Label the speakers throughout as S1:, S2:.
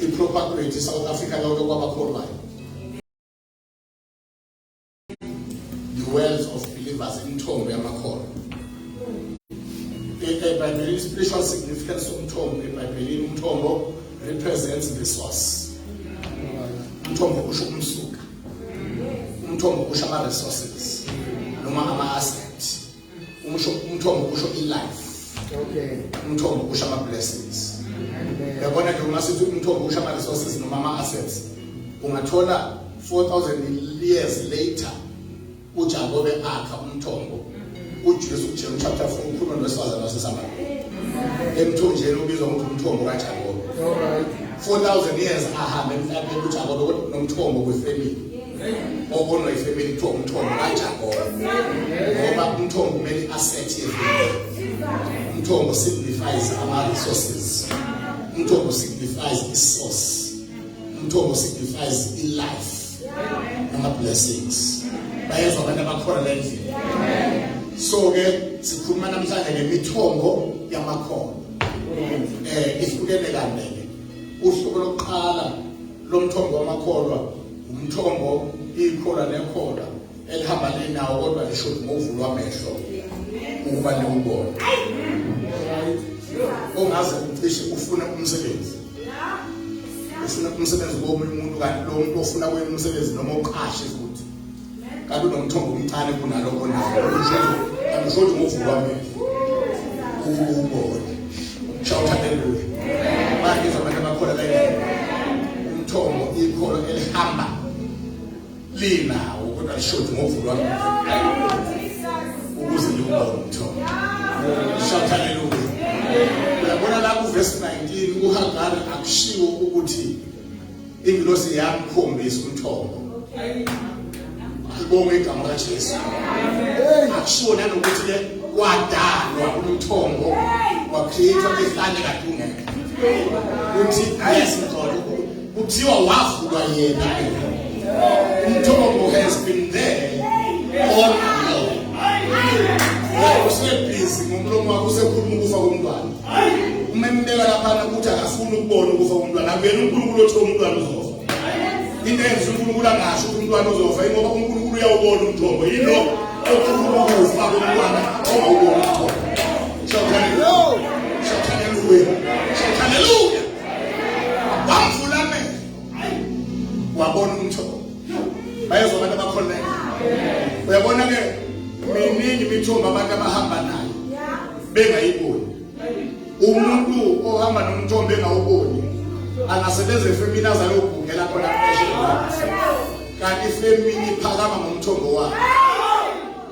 S1: i-propagate i-south africa lonke kwabakholwayo the wells of believers imithombo yamakholwa ebhayibhelini spiritual significance somthombo ebhayibhelini umthombo represents the source umthombo usho umsuka umthombo usho ama-resources noma ama-assets umusho umthombo kusho ilife okay
S2: umthombo kusho ama
S1: blessings yabona nje uma sithi umthombo kusho ama resources noma ama assets ungathola 4000 years later uJakobe akha umthombo uJesu uJesu chapter 4 ukhuluma nowesifazane waseSamariya emthonjeni ubizwa ngokuthi umthombo kaJakobe 4000
S2: years
S1: ahambe emhlabeni uJakobe kodwa nomthombo kwefamily obonwa ifemeli kuthiwa umthombo kajabona ngoba umthombo kumele i-asset yevimeli umthombo signifies ama-resources umthombo signifies i-source umthombo signifies i-life nama-blessings bayezwa abantu abakhona le ndlela so-ke sikhuluma namhlanje ngemithombo yamakhono um ihlukene kandeke uhlobo lokuqala Lo mthombo wamakholwa umthombo ikholwa nekholwa elihamba linawo kodwa lisho ukuthi ngovulwa amehlo ukuba liwubone ongaze ucishe ufune umsebenzi ufuna umsebenzi komunye umuntu kanti lo muntu ofuna kwenye umsebenzi noma uqashe futhi kanti unomthombo omncane kunalokho nawo angisho ukuthi ngovuka amehlo ukubona shawutha haleluya manje abantu abakhona la umthombo ikholo elihamba linawo kodwa lishodi ngovuka amehlo ukuze liwubone umthombo shawutha haleluya uyabona la kuvesi 19 uhagari akushiwo ukuthi ingilosi yamkhombisa umthombo alibonge igama kaJesu akushiwo nanokuthi ke kwadalwa umthombo wakhethwa ihlane kadungeke uthi ayesithola kuthiwa wavulwa yena umthombo has been there all along usebhizi ngomlomo wakho usekhuluma ukufa komntwana umembeka laphana ukuthi akafuni ukubona ukufa komntwana akuyena unkulunkulu othi umntwana uzofa into enza unkulunkulu angasho ukuthi umntwana uzofa ingoba unkulunkulu uyawubona umthombo yilo okhuluma ukufa komntwana ongawubona umthombo shakaleluya shakaleluya wabona umthombo bayezwa abantu abakholeka uyabona ke miningi imithombo abantu abahamba nayo bengayiboni umuntu ohamba nomthombo engawuboni angasebenza efemini azayobhungela khona kanti ifemini iphakama ngomthombo wakhe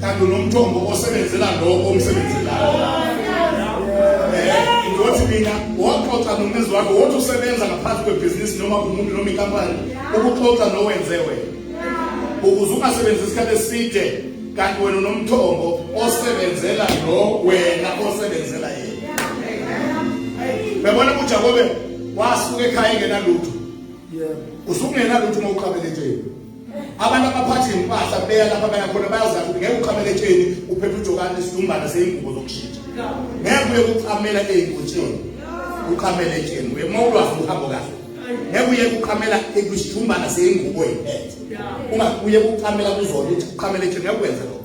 S1: kanti unomthombo osebenzela lowo omsebenzelayo ngothi eh, mina waxoxa nomnezi wakho wothi usebenza ngaphansi kwebhizinisi noma umuntu noma inkampani ukuxoxa nowenze wena ukuze ungasebenzi isikhathi eside kanti wena unomthombo osebenzela lo wena osebenzela yena bebona ujakobe wasuka ekhaya engenalutho usungenalutho uma uqabele nje abantu abaphathi ngempahla beya lapha baya khona bayazazi ukuthi ngeke uqhamele etsheni uphethe ujokane isidumbana seyingubo zokushintsha ngeke uye kuqhamela ey'ngotsheni uqhamele etsheni uye uma ulwazi uhambo kahle ngeke uye kuqhamela kwisithumbana seyingubo yiphethe uma uye kuqhamela kuzona ukuthi uqhamele etsheni ngeke kwenza lokho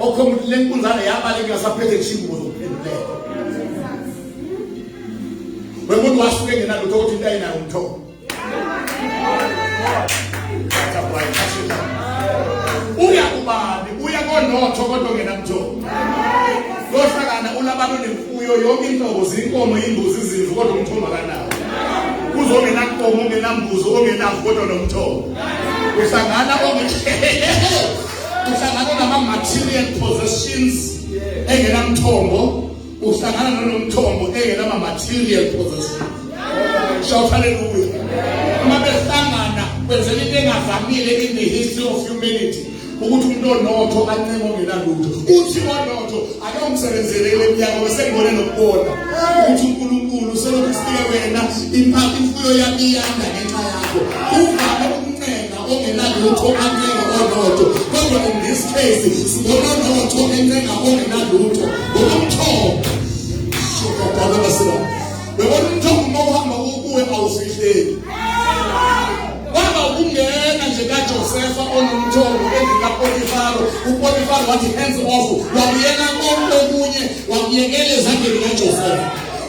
S1: okho umuntu le nkunzana yabaleka ngasaphethe kushingubo zokuphendulela wemuntu wasuke engenalutho ukuthi into ayinayo umthombo uya kubani uya konotho kodwa ngenamjolo lohlakana unabantu nemfuyo yonke inhlobo zinkomo imbuzi izimvu kodwa umthombo akanawo kuze ongenankomo ongenambuzi ongenamvu kodwa nomthombo uhlangana uhlangana nama-material possessions engenamthombo uhlangana nolomthombo engenama material possession shout hallelujah uma behlangana kwenzela into engavamile in the history of humanity ukuthi umuntu onotho ancenge ongenalutho uthi onotho akamsebenzelele emnyaka besengibone nokubona ukuthi unkulunkulu selokhu sike wena imfuyo yami iyanda ngenxa yakho uvame ongenalutho ancenga onotho kodwa in this case sibona onotho encenga ongenalutho ngokomthombo shokadala basela bebona umthombo uma uhamba ukuwe awufihleki waba ukungena nje kajosefa onomthombo endlini kapotifaro upotifaro wathi hands off wabuyela konke okunye wabuyekela ezandleni kajosefa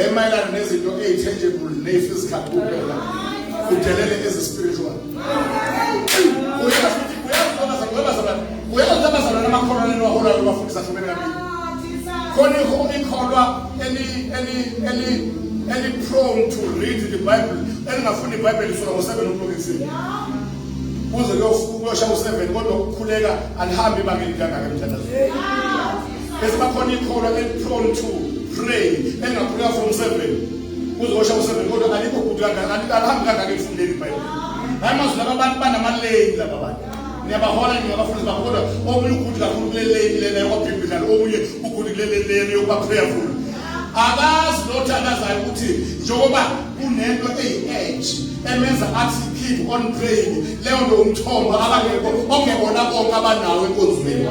S1: emayelana nezinto eyi-tangible neyi-physical kuphela udelele ezi-spiritual uyazilabazana namakholwa neniwaholayo ubafundisa hlumene kabili khona ikholwa eli-prone to read the bible elingafunda ibhayibheli isuka ngo-seven o'clock ekuseni kuze kuyosha u-seven kodwa ukukhuleka alihambi ibanga elingangaka emthandazweni esibakhona ikhona eliprone to pray engakhuleka from seven kuzosha useven kodwa alikho bhuti kangaka alihambi kangaka elifundeni ibhayibhile hayi mazwi laba abantu banamaleni laba bantu niyabahola ningabafundi bakho kodwa omunye uguti kakhulu kule leni lena yokwabhimbidlana omunye uguti kule leni lena yokuba prayerful akazi lothandazayo ukuthi njengoba kunento eyi-edge emenza athi keep on praying leyo nto umthombo abangekho ongebona bonke abanawo enkonzweni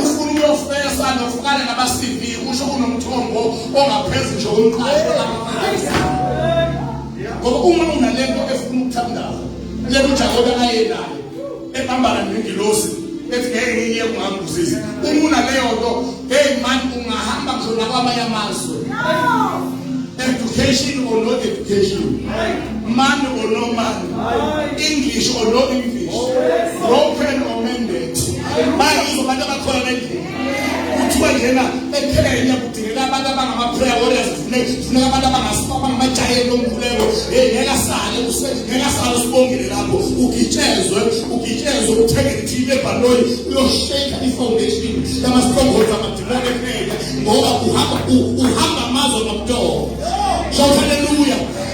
S1: ufuna uyofesa nofukana nama-cv usho unomthombo ongaphezu nje omqasho ngoba uma unale nto efuna ukuthandaza le kujakobe ayenayo ebambana nengilosi ethi ngeke ngiye kungangibusisi uma unaleyo nto hey man ungahamba ngisho nakwamanye amazwe education or no education man or no man english or no english broken or mended bayizo abantu abakhona endlini kuthiwa njena ephela yena kudingeka abantu abangama-prayer warriors funeka abantu abangamajayeli omkhuleko hey ngeke asale ngeke asale usibongile lapho ugitshezwe ugitshezwe uthengele ithini lebhaloyi uyosheka i-foundation yama-strongholds amadimoni ephela ngoba uhamba uhamba amazwe ngomtoko so haleluya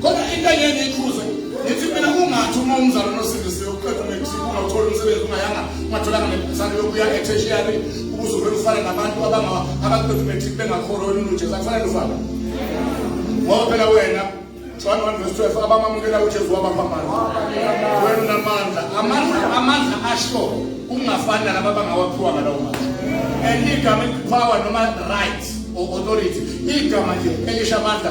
S1: Kodwa into engeke ngikhuze ngithi mina ungathi uma umzalo nosindisiwe uqeda umexico ungawuthola umsebenzi ungayanga ungatholanga nebhasana yokuya eteshiyari ukuze uvele ufane nabantu abaqeda umexico bengakholo olunuje zakufanele ufana ngoba phela wena John 1 verse 12 abamamukela uJesu wabaphambana wena unamandla amandla amandla asho kungafani nalaba abangawaphiwa ngalawo mandla and igama elipower noma right or authority igama nje elisha amandla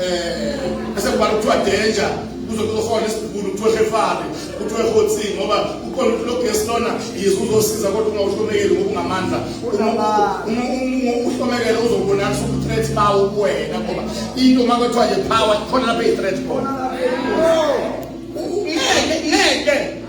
S1: eh bese kuba kuthiwa danger uzokuzohona isikhulu kuthiwa efari kuthiwa ehotsi ngoba ukhona ukuthi logesi lona yize uzosiza kodwa ungawuhlomekeli ngokungamandla uhlomekele uzobonakisa uku-threat bawo kuwena ngoba into uma kwethiwa ye-power khona lapho eyi-threat khona ngeke ngeke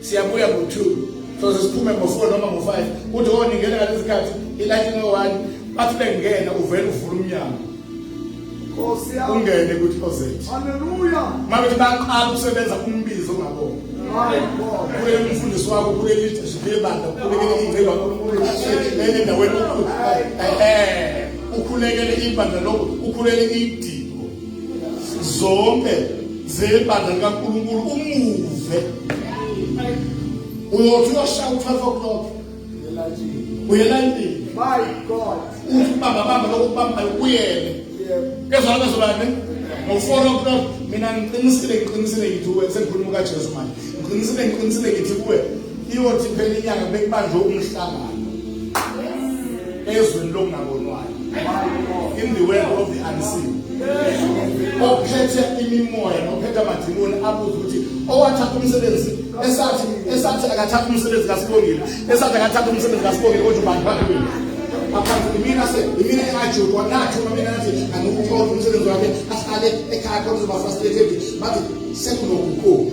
S1: siyabuya ngo-two soze siphume ngo-four noma ngo-five kuthi o oh, ningena ngalesi sikhathi ilathi ngo-one bathi bengena uvele uvula umnyango ungene kuthi ozet mabethi baqala ukusebenza umbizo ongabona kule mfundisi wakho kule leadership yebandla ukhulekele ingceba unkulunkulu endaweni ukhulekele ibandla lokho ukhulekele idingo zonke zebandla likaNkulunkulu umuve uyothi uyoshaya u-12 o'clock uyela endlini my god uthi ubamba bamba lokho kubambayo kuyele kezwana bezobane ngo-four o'clock mina ngiqinisile ngiqinisile ngithi kuwe sengikhuluma ukajesu manje ngiqinisile ngiqinisile ngithi kuwe iyothi phela inyanga bekubanjwe umhlangano ezweni lokungabonwayo in the world of the unseen ophethe imimoya nophethe amadimoni abuze ukuthi owathatha umsebenzi esathi esathi akathatha umsebenzi kasibongile esathi akathatha umsebenzi kasibongile kodwa ubani bakhe mina aphansi imina se imina engajudwa nathi uma mina nathi angikukhona umsebenzi wakhe ahlale ekhaya khona uzoba frustrated bathi sekunokukhulu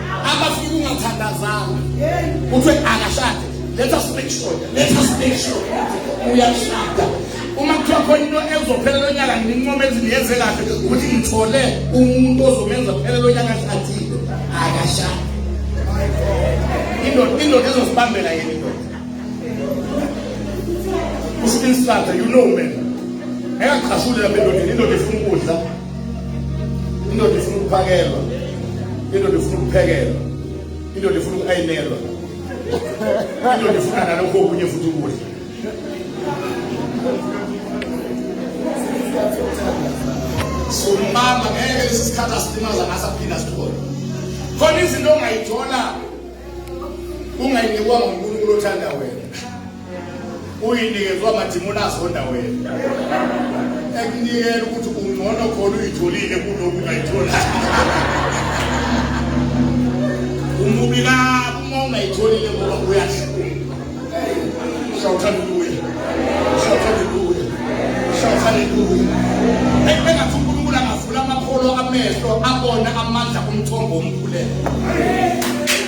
S1: abafika ungathandazanga kuthiwe akashade let us make sure let us make sure uyashada uma kuthiwa khona into ezophela lo nyaka ngincome ezingenze kahle ukuthi ngithole umuntu ozomenza kuphela lo nyaka shadile akashade indoda indoda ezosibambela yena indoda usibinsatha you know man engaqhashuli lapha endodeni indoda efuna ukudla indoda ifuna ukuphakelwa indoda ifuna ukuphekelwa indoda ifuna uku-ayinelwa indoda ifuna nalokho okunye futhi ukudla so mama ngeke lesi sikhathi asilimaza ngaso aphila sithole khona izinto ongayithola ungayinikwa ngunkulunkulu othanda wena uyinikezwa amadimoni azonda wena ekunikela ukuthi ungcono khona uyitholile kunoku ungayitholi umubi kabi uma ungayitholile ngoba uyahlula shout hallelujah shout hallelujah shout hallelujah ebengathi unkulunkulu angavula amakholo amehlo abone amandla omthombo omkhuleko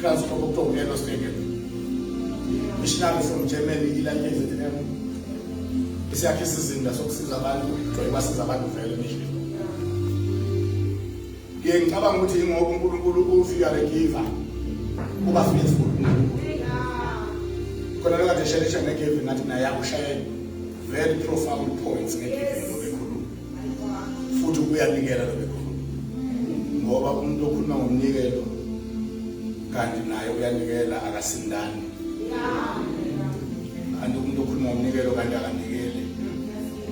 S1: Klaus Kokokto Yellow Stadium. Missionary from Germany ilalele ZM. Isiyakhe isizinda sokusiza abantu, joy basiza abantu vele mission. Ngiye ngicabanga ukuthi ingoba uNkulunkulu ufika regiver kuba faithful uNkulunkulu. Khona lokho nje shele shele ngeke ngathi naye akushayela. Very profound points ngeke. futhi uyanikela lo bekhuluma ngoba umuntu okhuluma ngomnikelo kanti naye uyanikela akasindani kanti umuntu okhuluma ngomnikelo kanti akanikeli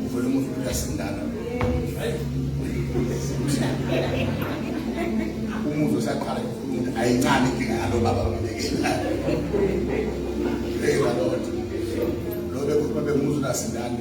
S1: uvele umuntu uyasindana umuntu usaqala ukukhuluma ukuthi ayincane inkinga yalo baba unikela hey lord lo bekhuluma bengumuzwe nasindani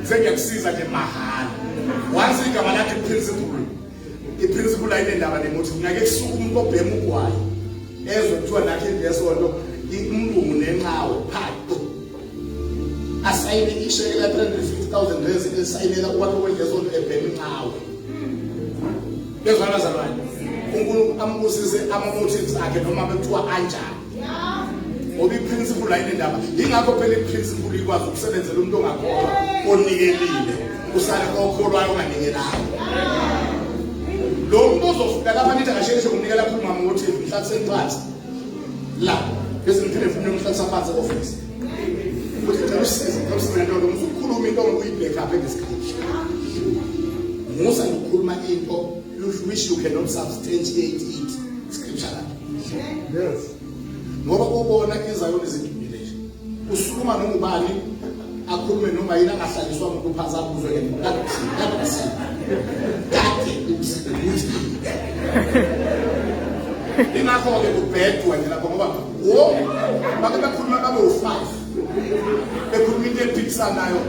S1: sengiyakusiza nje mahhala wazi igama lakhe principle iprinciple ayinendaba nemuthi ngeke kusuke umuntu obhema ugwayi ezwe kuthiwa nakhe lesonto umlungu nenqawe phato asayine isheke la 350000 rezi esayinela ukwakhe kwendlesonto ebhema inqawe bezwana zalwane uNkulunkulu ambusise amamotives akhe noma bekuthiwa anjani ngoba iprinciple ayinendaba yingakho phela iprinciple ikwazi ukusebenzela umuntu ongakholwa onikelile usale kokholwayo onganikelanga lo muntu ozofika lapha nithi akasheshe unikela khulu mama ukuthi mhlatheni phansi la bese ngiphinde funa umhlathisa phansi office ukuthi cela usize cela usize nto lo muntu ukhuluma into onguyibheka apha ngesikhathi musa ngokukhuluma into you wish you cannot substantiate it yes ngoba ubona izayoni zidumile nje usukuma noma ubani akhulume noma yini angahlaliswa umuntu phansi akuzwe ke kade kade ingakho-ke kubhedwa nje lapho ngoba wo bake bakhuluma babe u-five ekhuluma into ephikisanayo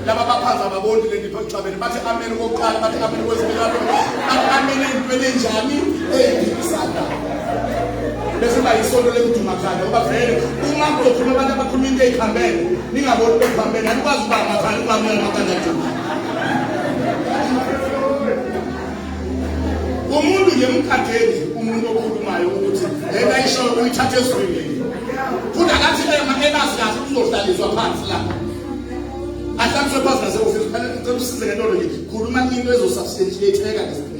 S1: laba baphansi ababoni le ndipho exabene bathi ameni kokuqala bathi ameni kwesibili bathi ameni ey'ntweni enjani ey'phikisanayo bese ba yisonto lemdumakhanda ngoba vele uma kuzokhuluma abantu abakhuluma into ey'phambene ningaboni bekuphambene anikwazi ukuba amakhanda ukwamela amakhanda umuntu nje mkhatheli umuntu okhulumayo ukuthi lena isho uyithathe ezweni futhi akathi ema elazi kahle uzohlaliswa phansi la ahlaliswe phansi nase ofisi phela ngicela usize ngento nje khuluma into ezosubstantiate eka ngesikhathi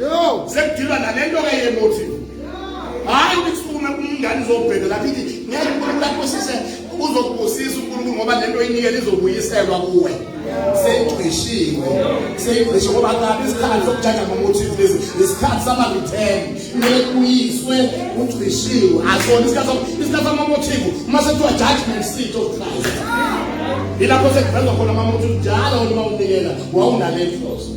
S1: Yo, sekudilwa nalento ke ye motive. Hayi ukufuna umngane uzobheka lapha ithi ngeke uNkulunkulu akusise uzokubusisa uNkulunkulu ngoba lento oyinikele izobuyiselwa kuwe. Seyigqishiwe. Seyigqishiwe ngoba kabi isikhathi sokujaja ngomotive lezi. Isikhathi sama return. Kumele kuyiswe ugqishiwe. Asona isikhathi isikhathi sama motive. Uma sekuthiwa judgment seat of Christ. Ilapho sekuvezwa khona amamotive njalo uma unikela wawunale inhloso.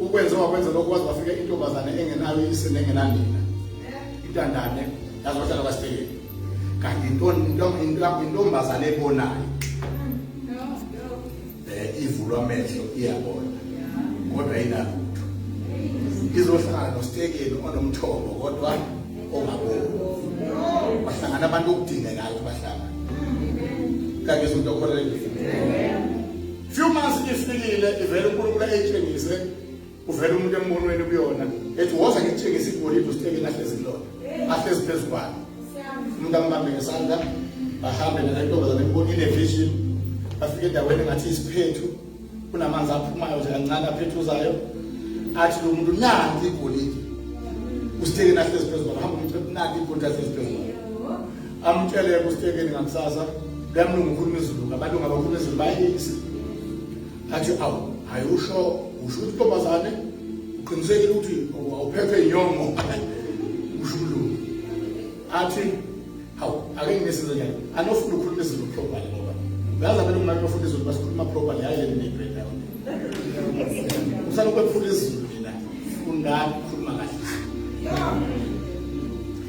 S1: ukwenze wakwenza lokho waze wafika intombazane engenayo ise nengenanina intandane yazi wahlala kwasibhekeni kanti intombazane ebonayo um ivulwa amehlo iyabona kodwa inalutho izohlala nostekeni onomthombo kodwa ongaboni bahlangana abantu okudingekayo bahlangana kanti izinto okholelekile few months ifikile ivele uNkulunkulu ayitshengise uvele umuntu embonweni kuyona ethi woza ngitshengise igolide usithekeni ahlezi kulona ahlezi phezu kwalo umuntu ambambe ngesandla bahambe nalentombazane kubona inevision bafike endaweni engathi isiphethu kunamanzi aphumayo nje kancane aphethuzayo athi lo muntu nanti igolide usithekeni ahlezi phezu kwalo hamba umthetho nanti igolide ahlezi phezu kwalo Amtshele kustekeni ngakusasa bemlungu ukhuluma izulu ngabalungu abakhuluma izulu bayisi. Athi awu hayi usho usho ukuthi ntombazane uqinisekile ukuthi awuphethwe inyongo usho umlungu. Athi hawu ake ngisize njani anofuna ukhuluma izulu properly ngoba uyazi abelungu manje bafuna izulu basikhuluma properly hayi yena nebheda. Usalokhu ephula izulu mina fundani khuluma kahle.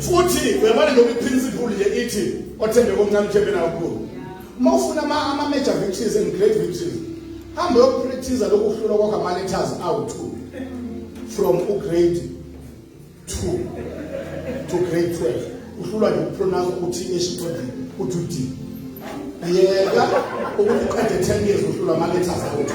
S1: futhi uyabona lokhu iprinciple le ithi othembeka omncane uthembe nakukhulu uma ufuna ama-major victories and great victories hambe yokuphrithiza lokuhlulwa kwakho ama-letters awu-two from ugrade two to grade twelve uhlulwa nje ukupronounce ukuthi h uthi u-d yeka ukuthi uqede ten years uhlulwa ama-letters awu-two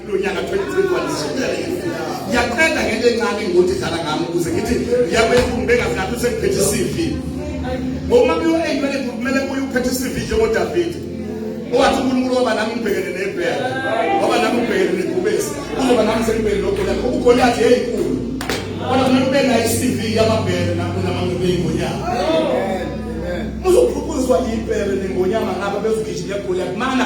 S1: lonyaka 2021 yaqeda ngento encane ngokuthi dlala ngami ukuze ngithi ngiyakwenkulu bengazingathi usengiphethe i-cv uma kuyo-eyimele kumele kuye ukuphethe i-cv njengodavide owathi unkulunkulu waba nami ngibhekene nebhela waba nami ngibhekene negubesi uzoba nami sengibhekene nogoliyathi ubugoliyathi yeyinkulu kodwa kumele ube nayo i-cv yamabhele nakunamangobeyingonyama uzophuphuzwa yibhele nengonyama ngaba bezugijima egoliyathi mana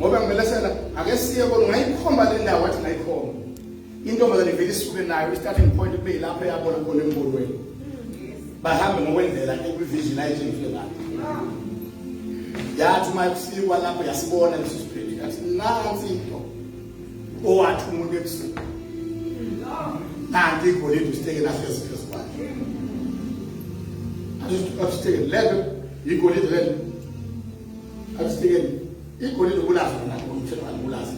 S1: ngoba ngimele sena ake siye kodwa ngayikhomba le ndawo wathi ngayikhomba intombazane ivele isuke nayo i-starting point kube yilapho eyabona khona embonweni bahambe ngokwendlela ekwivision ayitshengise ngayo yathi uma kufikwa lapho yasibona leso siphethu yathi nansi into owathi umuntu ebusuku nanti igolide usiteke nahlezi phezu kwakhe asiteke lento igolide lento Asifikeni. Igolide ubulazi lona umthetho alibulazi.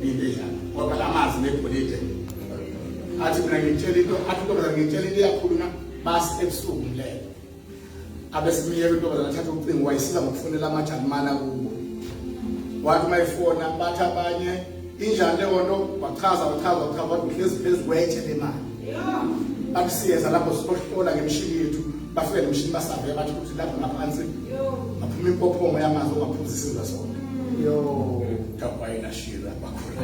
S1: Into enjalo. Ngoba lamazi negolide. Athi mina ngitshela into, athi ntombazana ngitshela into yakhuluna basi ebusuku ngilele. Abesimiyeka intombazana athatha ucingo wayisiza ngokufonela amajalimana kubo. Wathi mayifona bathi abanye Injani le nto wachaza wachaza wachaza kodwa uhlezi phezu kwetshe le mali. Bathi siyeza lapho siyohlola ngemishini yethu bafike nemishini basave bathi ukuthi lapho ngaphansi ngaphuma impophongo yamanzi ongaphuza isizwe sonke. Yo. Kabayi nashira bakhona.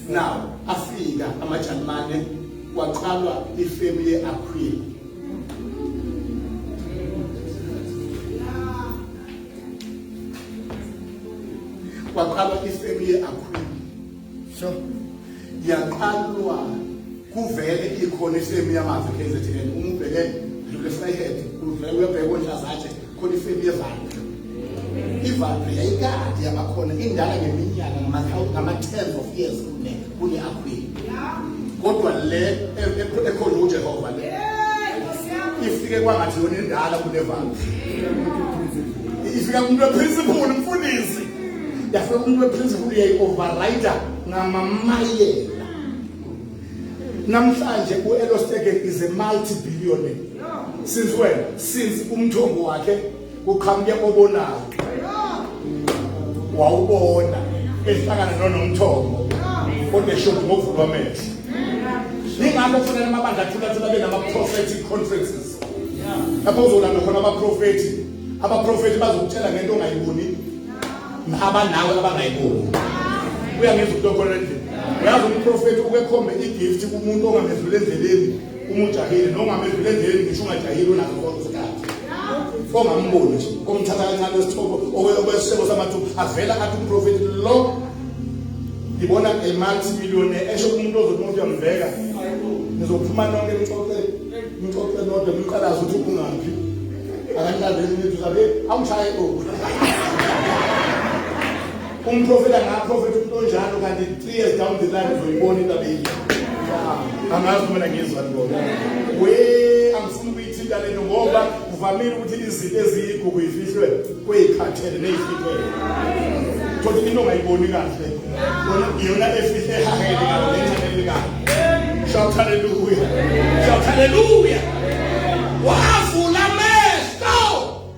S1: Now afika amaJalimane kwaqalwa ifemu ye-Aquila. kwaqalwa ifemu ye-akhulu so yaqalwa kuvele ikhona ifemu yamazi kzn uma ubheke dlule frehead kuvele uyabheka onhlazatshe khona ifemu yevalve ivalve yayikade yabakhona indala ngeminyaka ngama-tens of years kuneka kule akhwini kodwa le ekhona uJehova le ifike kwangathi yona indala kunevalo ifika umuntu weprinciple umfundisi yafika umuntu weprinciple uyayi-overrider ngamamayela namhlanje u-elostegen is a multi-billionaire since when since umthombo wakhe kuqhamuke obonayo wawubona ehlangana nonomthombo kodwa eshoda ngokuvulwa amehlo yingakho kufanele amabandla athulathula abe nama-prophetic conferences lapho uzolanda khona abaprofethi abaprofethi bazokutshela ngento ongayiboni abanawe abangayiboni uyangenza umuntu okhona endlini uyazi umprofethi ukekhombe igift kumuntu ongamezwile endleleni Uma ujahile noma amedlule endleleni ngisho ungajahile unazo konke isikhathi. Ongamboni nje, omthatha kancane wesithobo okwesishebo samathu avela athi umprofeti lo ngibona a multi millionaire esho umuntu ozothi umuntu uyamveka. Nizophuma nonke nixoxe nixoxe nodwa niqalaze ukuthi ungaphi. Akangilandeli nithu sabe awushaye oku. Umprofeta ngaprofeta umuntu onjalo kanti three years down the line uzoyibona into abeyile. Angazi uma mina ngizwa ngibona. We angifuni ukuyithinta lento ngoba kuvamile ukuthi izinto eziyigugu ifihlwe kweyikhathele neyifihlwe. Kodwa into ongayiboni kahle. Yona yona efihle ehahele kahle nencane kahle. Shout hallelujah. Shout hallelujah. Wavula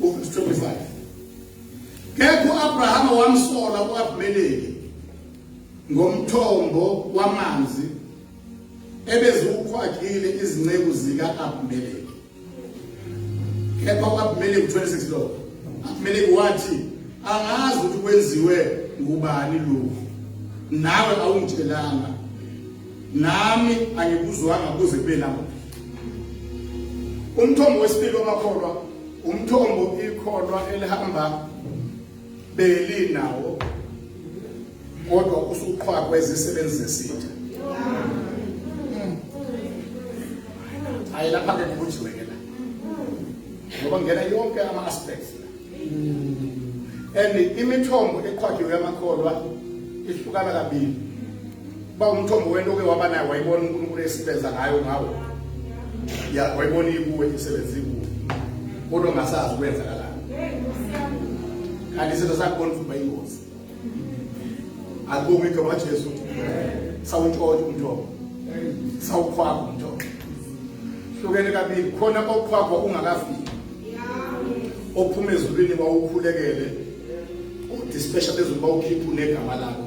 S1: Verse 25. Kepha uAbrahama wamsola uAbimeleki ngomthombo wamanzi ebeziwukhwagile izinceku zika-Abimeleki. Kepha uAbimeleki 26 lo. Abimeleki wathi angazi ukuthi kwenziwe ngubani lokhu. Nawe awungitshelanga Nami angikuzwanga kuze kube lapho. Umthombo wesibili wamakholwa umthombo ikholwa elihamba beli nawo kodwa usuqhwakwa izisebenzi zesitha. Ayilapha ke kubujiwe ke la. Ngoba ngena yonke ama aspects and imithombo eqhwajiwe yamakholwa ihlukana kabili ba umthombo wento oke waba naye wayibona uNkulunkulu esebenza ngayo ngawo ya wayibona ikuwe isebenza ikuwe kodwa ngasazi kwenzakalani kanti izinto zakubona ukuba ingozi Alibonge igama likaJesu. Sawuntshontsha umthombo. Sawukhwaka umthombo. Hlukene kabili khona okhwakwa ungakafiki. Ophuma ezulwini bawukhulekele. Udispesha phezulu bawukhipha unegama lakho.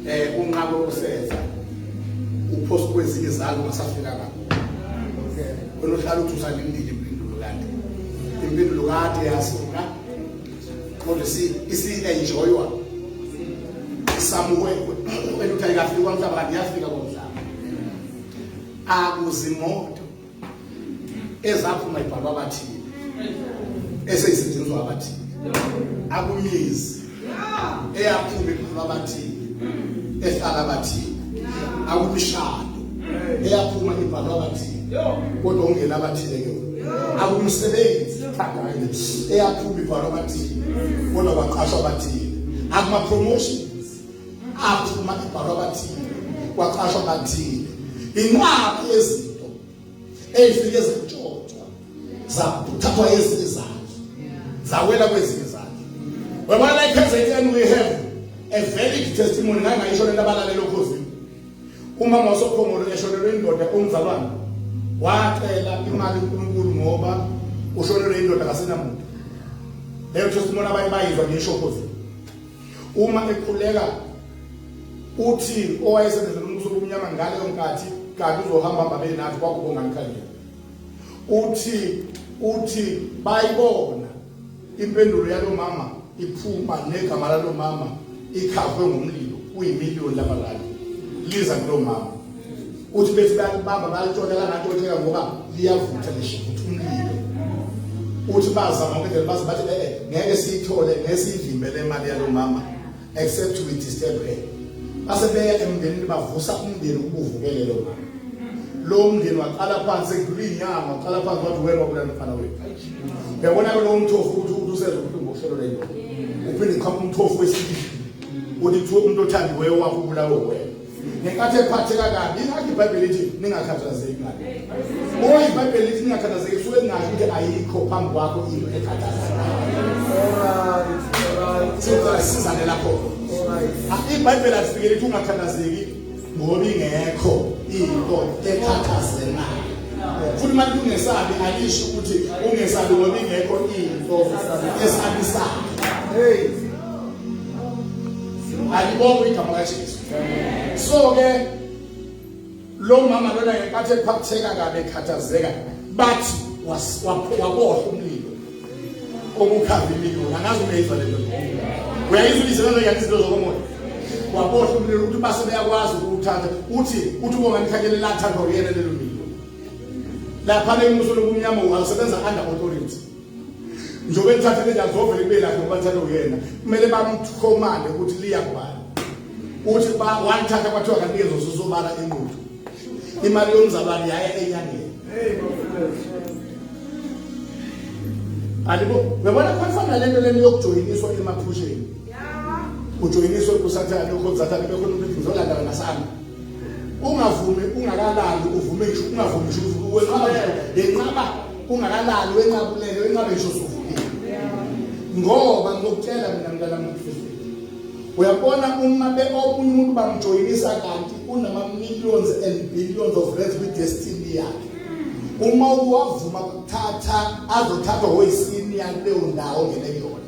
S1: Eh unqabo usenza. Uphosa kwezinye izalo basafika ngakho. Wena uhlala uthi usalindile impendulo kade. Impendulo kade yasuka. kodwa isi-enjoywa isamukwekwe kumele ukuthi ayikafiki kwamhlaba kanti iyafika komhlaba akuzimoto ezaphuma ibhalwa abathile eseyisetshenziswa abathile akumizi eyaphuma ibhalwa abathile ehlala abathile akumishado eyaphuma ibhalwa abathile kodwa ungena abathile ke akumsebenzi eyaphuma ibhalwa abathile kodwa kwaqashwa abathile akuma promotions aphuma ibhalwa abathile kwaqashwa abathile inqaba yezinto ezifike zantshotshwa zathathwa ezinye zazo zawela kwezinye zazo wabona like KZN we have a valid testimony ngangayisho lento abalalelo khosini umama wasokhongolo eshonelwe indoda umzalwane wacela imali uNkulunkulu ngoba ushonelwe indoda kasenamuntu leyo testimony abanye bayizwa ngeshokozi uma ekhuleka uthi owayesebenzela umbuso obumnyama ngaleyo nkathi kanti uzohamba mbabeni nathi kwakubonga ngikhangela uthi uthi bayibona Impendulo yalo mama iphuma negama lalo mama ikhavwe ngomlilo kuyimiliyoni labalali liza kulo mama uthi bethi bayakubamba bayalitshona langatshoneka ngoba liyavutha lishivutha umlilo uthi bazama ngedlela baze bathi eh, eh ngeke siyithole ngesiyivimbele imali yalo mama except we disturb her base beya emndenini bavusa umndeni ukuvukelelo mama lo mndeni waqala phansi ekudlula inyanga waqala phansi wathi wena wabulala mfana wethu yabona ke lo mthofu ukuthi uthi usenza ubuhlungu ohlelo lento uphinde qhamuka umthofu wesilisa uthi kuthiwa umuntu othandiweyo wakho ubulawe wena ngenkathi ephatheka kabi ingakho ibhayibheli lithi ningakhathazeki ngani oyi ibhayibheli lithi ningakhathazeki suke ngazi ukuthi ayikho phambi kwakho into ekhathazekasizane lapho ibhayibheli alifike lithi ungakhathazeki ngoba ingekho into ekhathazelayo futhi uma lithi ungesabi alisho ukuthi ungesabi ngoba ingekho into esabisayo hey alibongo igama kajesu so ke lo mama lona ngenkathi ephatheka kabi ekhathazeka bathi wabohla umlilo obukhava imililo angazi ungeyizwa le nto uyayizwa ibizo lona yathi izinto zokomoya wabohla umlilo ukuthi base beyakwazi ukuwuthatha uthi uthi ubonga nikhanyele lathandwa uyena lelo mlilo lapha le muso lobumnyama usebenza under authority njengoba elithathe leli azovele kube lakhe ngoba lithathe uyena kumele bamthomane ukuthi liya kubani uthi walithatha kwathiwa kanikeza ususobala inqudu imali yomzalwane yaya enyangeni alibo uyabona khona le nto lento yokujoyiniswa emaphusheni ujoyiniswe kusathane ukhonsathane bekhona umuntu ngizolandana nasami ungavumi ungakalali uvume ngisho ungavumi ngisho wenqaba yenqaba kungakalali wenqabulele wenqabe nje usuvukile ngoba ngokutshela mina mntana mfundisi uyabona uma be okunye umuntu bamjoyinisa kanti unama millions and billions of reds with destiny yakhe uma uwavuma kuthatha azothathwa hoyisini yakuleyo ndawo ngene yona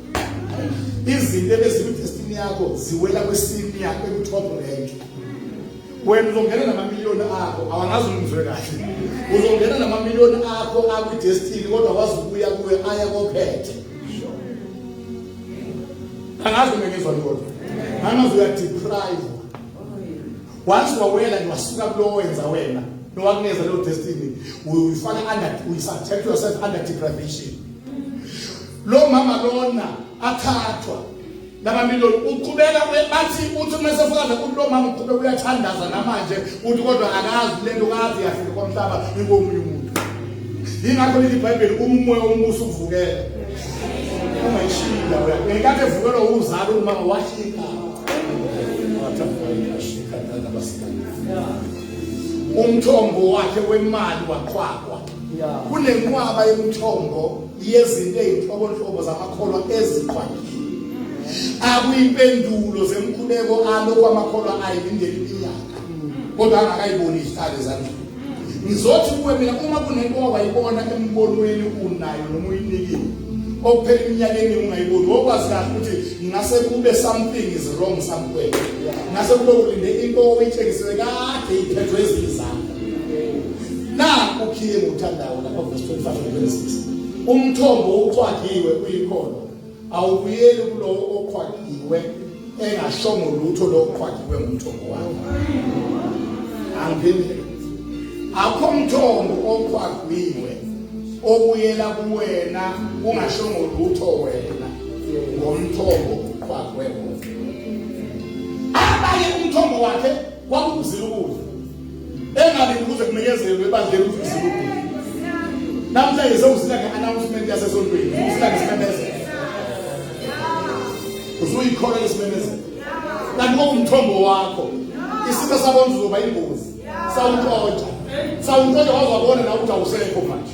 S1: izinto ebezikwi destiny yakho ziwela kwisini yakho ekuthobo renke wena uzongena namamiliyoni akho awangazi umzwe kahle uzongena namamiliyoni akho akwi-destiny kodwa wazi ukuya kuye aya kophethe angazi umengizwa lona angazi uyadeprive once wawela niwasuka kulowo wenza wena nowakuneza leyo destiny uyifaka under uyisubject yourself under deprivation lo mama lona athathwa Laba miloni uqhubeka bathi uthi uma sefakaza ukuthi lo mama uqhubeka uyathandaza namanje uthi kodwa akazi lento kazi yafika komhlaba ingomunye umuntu. Yingakho lithi iBhayibheli uma umoya womusa uvukela. Ungayishiya wena. Ngenkathi evukelwa uzalo umama washika. Umthombo wakhe wemali waqhwaqwa. kunenqwaba yemithombo yezinto ezinhlobonhlobo zamakholwa eziqwakile akuyimpendulo zemkhuleko alokho amakholwa ayilindele iminyaka kodwa angakayiboni izihlale ezandleni ngizothi kuwe mina uma kunento owayibona embonweni unayo noma uyinikile okuphela iminyakeni ungayiboni wokwazi kahle ukuthi ngase kube something is wrong somewhere ngase kube ulinde into oyitshengisele kade iphethwe ezizami Naku King uthandayo lapha verse 25 and 26. Umthombo oqwagiwe uyikhona. Awubuyeli kulowo oqwagiwe engashongo lutho lo oqwagiwe ngumthombo wakhe. Angiphendule. Akho mthombo oqwagiwe obuyela kuwena ungashongo lutho wena ngomthombo oqwagwe wona. Abanye umthombo wakhe Waphuzile ukudla. Engabe ukuze kunikezelwe ebandleni ukuthi uzile ukudla. Namhlanje sewuzila nge-announcement yasesontweni. Uzila ngesimemezelo. Uzuyikhola lesimemezelo. Kanti ngokumthombo wakho. Isitha sabona uzoba ingozi. Sawuxotsha. Sawuxotsha wazwabona na ukuthi awusekho manje.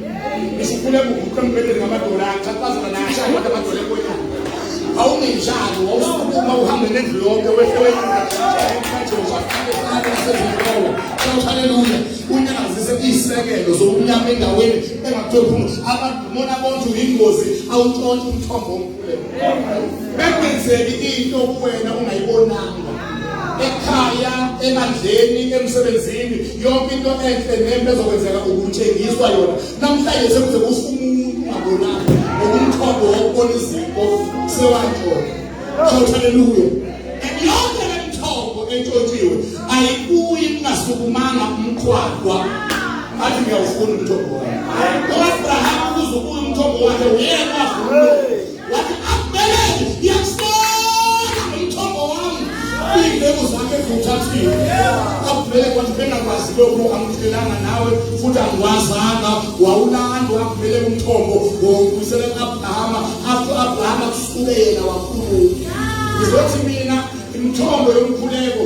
S1: Isifune kuguqe mbedeni ngamadola axhaphaza nasha kodwa amadola ekwethu. Awungenjalo wawusukuma uhambe nendlu yonke wehle wehle. Haleluya. Unyakazise isekelo zokunyama endaweni engaphezulu. Abantu mona bonke uyingozi awuntshontshe umthombo omkhulu. Bekwenzeki into kuwena ungayibonanga. Ekhaya, ebandleni, emsebenzini yonke into enhle nembe ezokwenzeka ukutshengiswa yona namhlanje sekuze kufa umuntu ungabonani ngokumthombo wokubona izinto sewantshona shout haleluya and yonke le mthombo entshotshiwe ayikuyi kungasukumanga umqhwaqwa athi ngiyawufuna umthombo wakhe ngoba abraham ukuze ubuye umthombo wakhe uyekwa Wathi akubele ngiyakubona umthombo wami. Izinto zakhe zithathile. Akubele kwathi bengakwazi lokho angithelanga nawe futhi angiwazanga wawulandwa akubele umthombo wokubuyisela kuAbraham after Abraham kusuke yena wakhuluma. Ngizothi mina imithombo yomkhuleko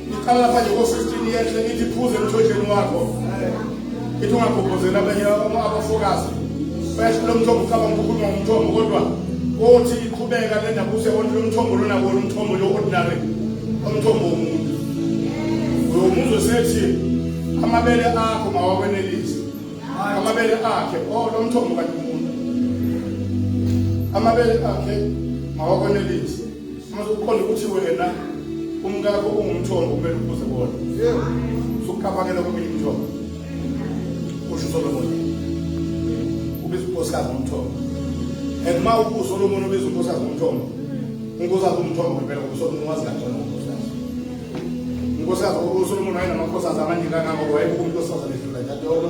S1: Iqala lapha nje ko-15 yehle ithi phuze emthonjeni wakho ithi ungagobhozeli abanye abafokazi basho lo mthombo ucabanga ukukhuluma ngomthombo kodwa kothi iqhubeka le ndaba use onke lo mthombo lona kona umthombo lo ordinary umthombo womuntu uyomuzo sethi amabele akho mawakwenelisi amabele akhe o oh, lo mthombo kanti umuntu amabele akhe mawakwenelisi Uma uqonda ukuthi wena umkakho ungumthombo kumele ubuze bona. Usuqabakela komunye umthombo. Usho uSolomon. Ubiza unkosikazi ngomthombo. And uma uSolomon ubiza unkosikazi ngomthombo, unkosikazi umthombo ngempela uSolomon wazi kangcono unkosikazi. Unkosikazi uSolomon wayenamakhosazi amaningi kangako wayebuka unkosikazi edlula enkantolo.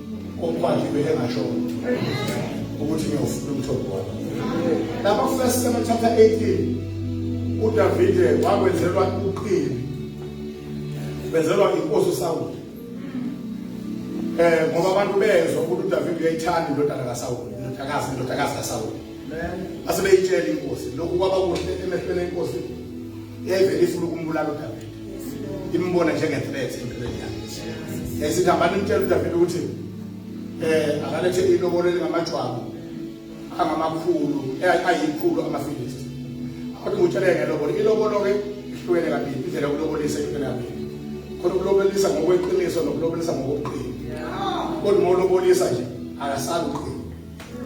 S1: Umfana ibe engasho ukuthi ngiyofuna umthombo wakho. Lapha first Samuel chapter 18 uDavide wakwenzelwa uqili. Benzelwa inkosi uSawule. Eh ngoba abantu bezwa ukuthi uDavide uyayithanda indodana kaSawule, indodakazi indodakazi kaSawule. Asebeyitshela inkosi lokhu kwaba kuhle emehlweni enkosi. Yayivele ifuna ukumbulala uDavide. imbona njenge-threat empilweni yakhe esithi hambani mtshela udavide ukuthi eh akalethe ilobolo elingamajwabu angamakhulu eh, ayikhulu amafilisti kodwa ngutshele ngelobolo ilobolo-ke ihlukene kabili indlela yokulobolisa ihlukene kabili khona ukulobolisa ngokweqiniso nokulobolisa ngokobuqili kodwa uma ulobolisa nje akasabi uqili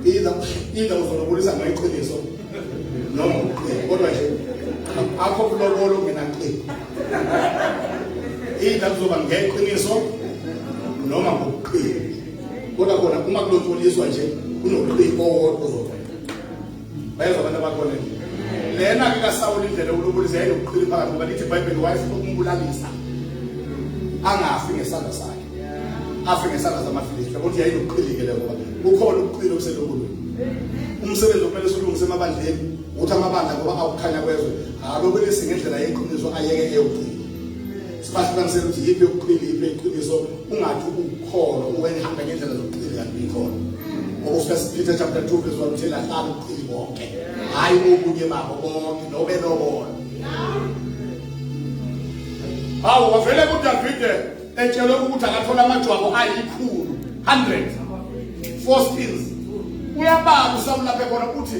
S1: Either either uzolobulisa ngeqiniso noma kodwa nje akho kulobolo mina ngicela. Either kuzoba ngeqiniso noma ngokuqina. Kodwa khona uma kulotsholiswa nje kunoqini owodwa bayezwa abantu abakhona nje lena ke kasawula indlela ukulubulisa yayilokuqhili phakathi ngoba lithi ibhayibheli wayefuna ukumbulalisa angafi ngesandla sakhe afe ngesandla samafilisti kodwa yayilokuqhilike leyo ngoba kukhona ubuqhili obuselokulweni umsebenzi okumele siwulungise emabandleni ukuthi amabandla ngoba akukhanya kwezwe alobelise ngendlela yeqiniso ayeke eyogcina Sibahlukanisele ukuthi yiphi yokuqili yiphi eqiniso ungathi ukukholo uwenhamba ngendlela zokuqili kanti uyikhona. Ngoba uFirst Peter chapter 2 verse 1 uthela hlala uqili bonke. Hayi okunye babo bonke nobe nobona. Hawu wavele kuDavide etshelwe ukuthi akathola amajwabu ayikhulu 100 four skills uyabala usamlaphe khona uthi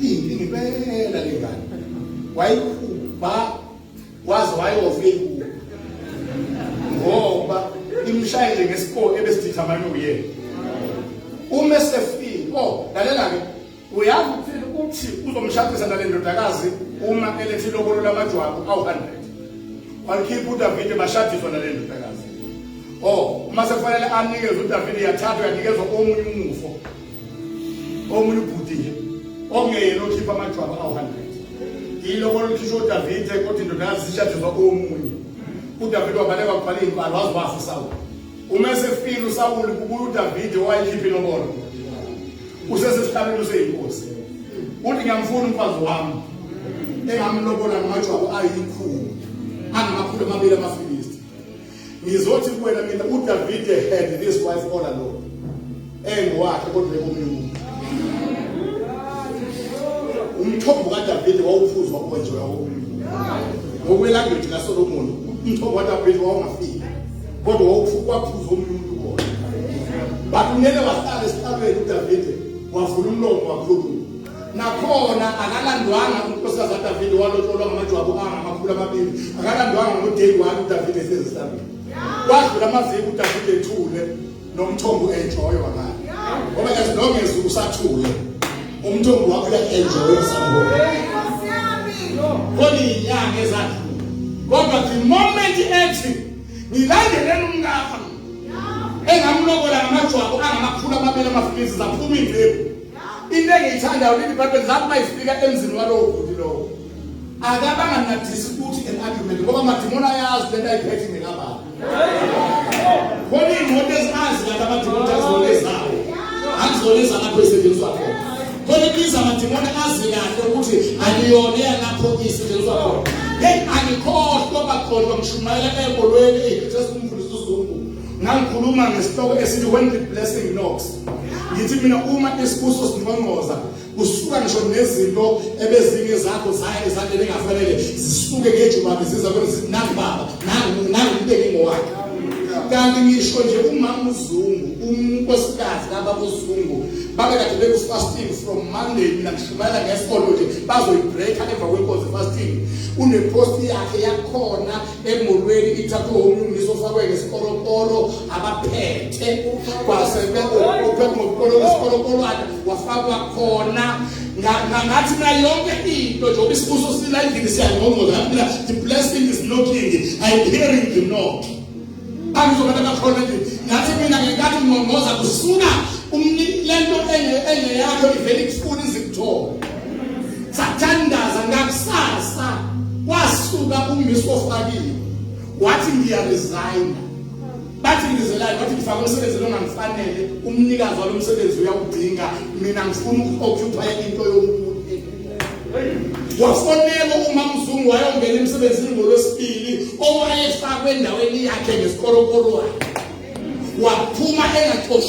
S1: Imbi ngibela lengane. Wayikhupha waze wayofika inkulu. Ngoba imshayile ngesikole ebesithatha manje uyena. Uma sefika, oh, lalela ke. Uyazi ukuthi uthi uzomshadisa nale ndodakazi uma elethi lokolo lamajwabu awu100. Walikhipha uDavide bashadiswa nale ndodakazi. Oh, uma sekufanele anikeze uDavide yathathwa yanikezwa omunye umufo. omunye ubhuti okungeyena okhipha amajwabu awu-100 ilobolo likhishwa udavide kodwa indodakazi zishadiswa omunye udavide wabaleka kubhala iy'mbalo waze wafa usawuli uma esefile usawuli kubuya udavide owayikhipha ilobolo usesesihlalweni useyinkosi uthi ngiyamfuna umfazi wami engamlobola ngamajwabu ayikhulu angamakhulu amabili amafilisti ngizothi kuwena mina udavide had this wife all alone engowakhe kodwa ekomunye umuntu umthombo kadavide wawuphuzwa kuwenjewa komunye ngokwelanguage kasolomoni umthombo kadavide wawungafiki kodwa wawuphuzwa omunye umuntu kona but unele wahlala esihlalweni udavide wavula umlomo wakhuluma nakhona akalandwanga unkosikazi kadavide walotsholwa ngamajwabu angamakhulu amabili akalandwanga ngodeyi wani udavide esezisabile wadlula amaviki udavide ethule nomthombo enjoyo wakala ngoba as long as usathule umthombo wakho uya-enjoya sambona koliyinyanga ezadlula kodwa the moment ethi ngilandeleni umkakha engamlokola ngamajwabu angamakhulu amabili amafikisi zaphuma indlebu into engiyithandayo leli bhayibheli lapho uma ifika emzini walowo bhuti lowo akabanga nadisi ukuthi an argument ngoba amadimoni ayazi lento ayiphethe ngekababa khona iy'moto ezingazi kanti amadimoni azona ezawo angizona ezalapho esetshenziswa khona khona ibiza amadimoni azi kahle ukuthi aliyona eyalapho isetshenziswa khona heyi angikhohlwa bakhona ngishumayela ebolweni eyi sesikumfundisa uzungu ngangikhuluma ngesihloko esithi when the blessing knocks ngithi mina uma isibuso singqongqoza kusuka ngisho nezinto ebezinye zakho zaya ezandleni engafanele zisuke ngejubane ziza kwenza ukuthi nangu baba nangu nangu ubeke ngowakhe kanti ngisho nje umama uzungu unkosikazi laba uzungu babe kade beku-fasting from monday mina ngishumayela ngesikolo nje bazoyibreaka emva kwenkozi fasting uneposti yakhe yakhona emolweni ithathwe umlungisi ofakwe ngesikoronkolo abaphethe kwase beuphe ngokolo kwesikoronkolowana wafakwa khona ngathi mina yonke into njengoba isibuso sila endlini siyangqongqoza ngathi mina the blessing is knocking i'm hearing the knock angizobantu abakhona endlini ngathi mina ngenkathi ngqongqoza kusuka lento engeyakho ivele ikufuna izikuthole sathandaza ngakusasa kwasuka uMiss ofakile wathi ngiya resign bathi ngizelayo bathi ngifaka umsebenzi longangifanele umnikazi walomsebenzi uyawudinga mina ngifuna ukuoccupy into yomuntu wafonela umamzungu wayongena emsebenzini ngolwesibili owayefakwe endaweni yakhe ngesikorokorwayo waphuma engaxoshwa